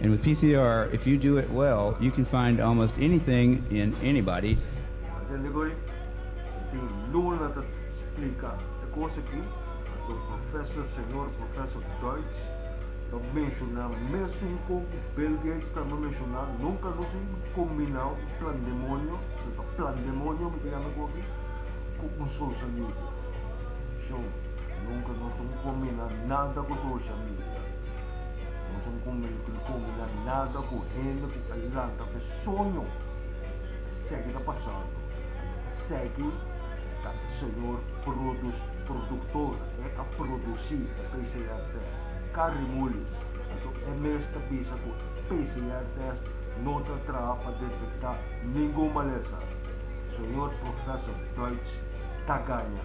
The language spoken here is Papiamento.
And with PCR, if you do it well, you can find almost anything in anybody. Pa tende koe e tin luna ta splika e kos aki, Pator Professor, Señor Professor Deutz ta menshona mesun kon ku Bill Gates tambe menshona, nunka nos un kombinao di plandemonio, nos ta plandemonio mi ta yama e koki, ku un social media. Shon, nunka nos ta kombiná nada ku social media. Nos un convento di comina nada cu hende cu a lanta fe soño ta segui ta pasando y ta segui ta e señor produs productor e a produci e PCR test Carrie Mullis anto e mes ta bisa cu e PCR test no ta traha pa detecta ningun malesa señor Professor Deutsch ta gaña.